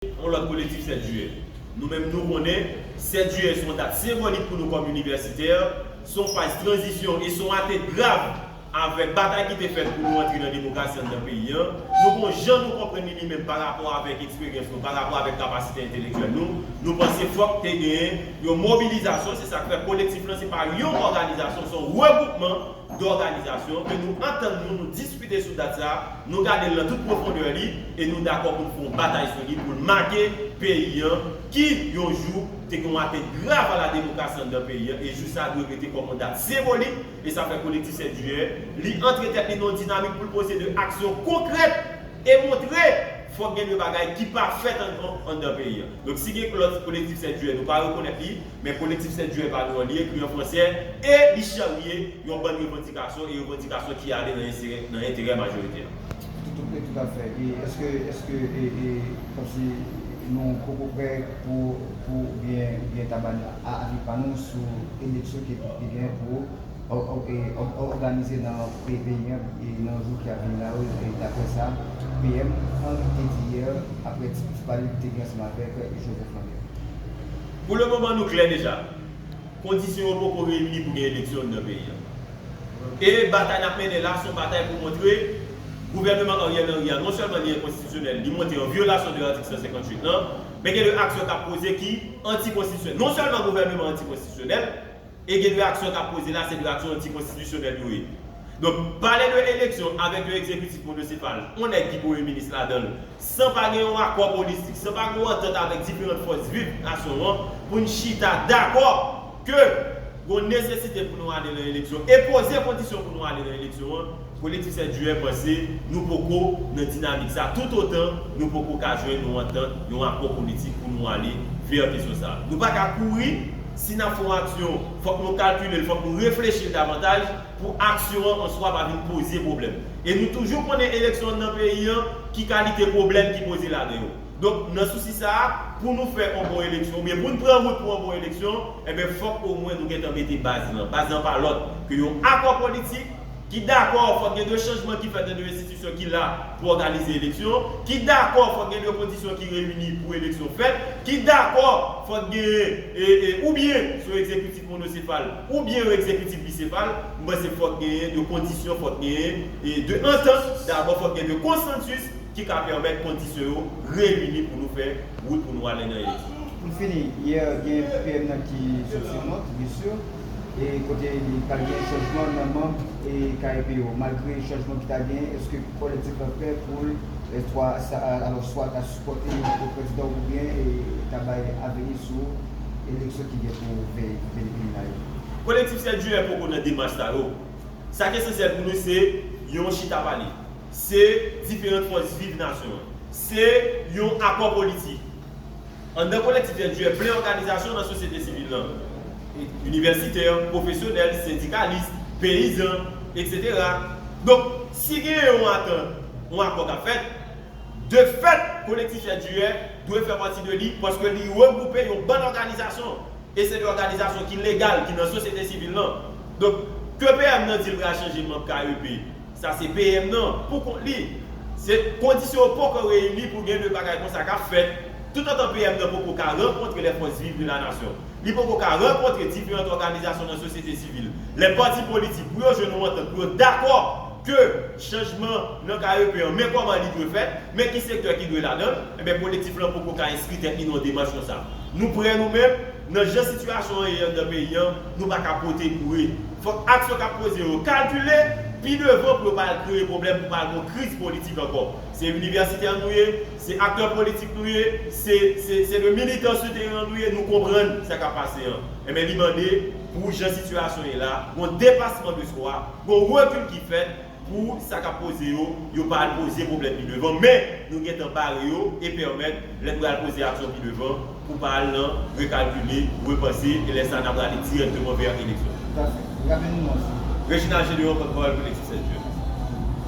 Yon lòt kolektif 7 jiyè. Nou menm nou konnen, 7 jiyè se yon dat senbolik pou nou kòm inivèsitè, se yon faz tranzisyon e se yon ate grav avèk batay ki te fèt pou nou antre nan demokrasi anndan peyi an. Nou gon jan nou konprann li li menm pa rapò avèk eksperyans nou, pa rapò avèk kapasite entelektyèl nou. Nou panse fòk te gen yon mobilizasyon, se sa k fè kolektif lan se pa yon òganizasyon, se yon regwoupman. dòganizasyon, ke nou antann nou, nou diskite sou dat sa a, nou gade l nan tout pwofondè li, e nou dakò pou n fè yon batay sou li, pou l make peyi an, ki, yon jou, te gen yon atent grav a la demokrasi anndan peyi an, e jou sa a dwe rete kòm yon dat senbolik, e sa fè Kolektif 7 Jiyè, li antre tèt li nan yon dinamik pou l pose de aksyon konkrèt, e montre, fòk gen de bagay ki pa fèt ankò anndan peyi an. Donk si gen lòt Kolektif 7 Jiyè, nou pa rekonèt li, Men Kolektif Sèt Jiyè pa dwòl li ekri an fransè e li charye yon bann revandikasyon e revandikasyon ki ale nan enterè majorite a. Tout a fè. E eske, eske e, e kòmsi nou poko prè pou, pou oubyen, oubyen ta ba avi pa nou sou eleksyon ki gen pou òganize nan peyi an e nan jou ki ap vini la yo e daprè sa PM Henry te di yè aprè ti pale li te gen ansanm avèk Joseph Lambert? Pou le moman nou klè deja, kondisyon yo poko reyini pou gen eleksyon anndan peyi a. E batay n ap mennen la se yon batay pou montre gouvèneman Ariel Henry a non sèlman li enkonstitisyonèl, li monte an vyolasyon de atik 158 lan, men gen de aksyon k ap poze ki antikonstitisyonèl. Non sèlman gouvèneman an antikonstitisyonèl, e gen de aksyon kap poze la se de aksyon antikonstitisyonèl yo ye. Donk pale de eleksyon avèk yon ekzekitif monosepal, yon nèg ki premye minis ladanl, san pa gen yon akò politik, san pa gen yon antant avèk diferant fòs viv nasyon an poun chita dakò ke gon nesesite pou nou ale lan eleksyon e poze kondisyon pou nou ale lan eleksyon an, Politisyen djouè panse nou poko nan dinamik sa tout otan nou poko ka jwenn yon antant, yon akò politik pou nou ale vè kesyon sa. Nou pa ka kouri, si n ap fè yon aksyon fòk nou kalkile l, fòk nou reflechi l davantaj pou aksyon an an swa pa vin poze pwoblèm. E nou toujou konnen eleksyon nan peyi an ki kalite pwoblèm ki poze ladan yo. Donk nan sousi sa a, pou nou fè yon bon eleksyon oubyen pou n pran wout pou yon bon eleksyon, enben fòk omwen nou gentan mete baz lan. Baz lan pa lòt ke yon akò politik, ki dakò fòk gen de chanjman ki fèt nan de enstitisyon ki la pou òganize eleksyon, ki dakò fòk gen de kondisyon ki reyini pou eleksyon fèt, ki dakò fòk gen e e oubyen sou egzekitif monosefal oubyen yon egzekitif bisefal, m panse fòk genyen de kondisyon, fòk genyen e de antant, dabò fòk gen de konsansis ki ka pèmèt kondisyon yo reyini pou nou fè wout pou nou ale nan eleksyon. Pou n fini, yè gen PM nan ki sot sou mòt, byen sur. e kote li pral gen chanjman nan manb e KEP yo malgre chanjman ki ta genyen eske kolektif la prè poul swa sa alò swa ta sipòte yon lòt prezidan oubyen e ta bay aveni sou eleksyon ki gen pou veye pou vini peyi la yo. Kolektif 7 jiyè poko nan demach sa yo, sa k esansyèl pou nou se yon chita pale, se diferant fòs viv nasyon an, se yon akò politik. Anndan Kolektif Jèn Jiyè plen òganizasyon nan sosyete sivil lan, inivèsitè, pwofesyonèl, sendikalis, peyizan, etc. Donk, si gen yon atant, yon akò k ap fèt, de fèt Kolektif Jèn Jiyè dwe fè pati de li paske li regwoupe yon bann òganizasyon e se de òganizasyon ki legal, ki nan sosyete sivil lan. Donk, ke PM nan di l pral chanje manb KEP, Sa se PM nan pou kont li. Se kondisyon yo poko reyini pou gen de bagay konsa kap fèt. Toutotan PM nan poko ka rankontre les forces vives de la nation, li poko ka rankontre diferant òganizasyon nan sosyete sivil, les partis politiques pou yo jwenn yon antant, pou yo dakò ke chanjman nan KEP an, men kòman li dwe fèt, men ki sektè ki dwe ladan l, enben kolektif lan poko ka enskri tèt li nan yon demach konsa. Nou prè nou menm, nan jan sitiyasyon an ye anndan peyi an, Nou pa ka pote kouri. Fòk aksyon k ap poze yo kalkile pi devan pou yo pa al kreye pwoblèm pou pa al gen yon kriz politik ankò. Se inivèsitè nou ye, se aktè politik nou ye, se se de militan sou teren an nou ye, nou konprann sa k ap pase an. Enben li mande pou jan sitiyasyon ye la, gen yon depasman de swa, gen yon rekil ki fèt, Pou sa kap poze yo, yo pa al poze pwoblèm pi devan, men nou gentan bare yo e pèmèt lè n pral poze aksyon pi devan pou pa al nan rekalkile, repanse e lè sa n aprale dirèkteman vè eleksyon. Reginald Gédéon, pòtpawòl Kolektif 7 Jen.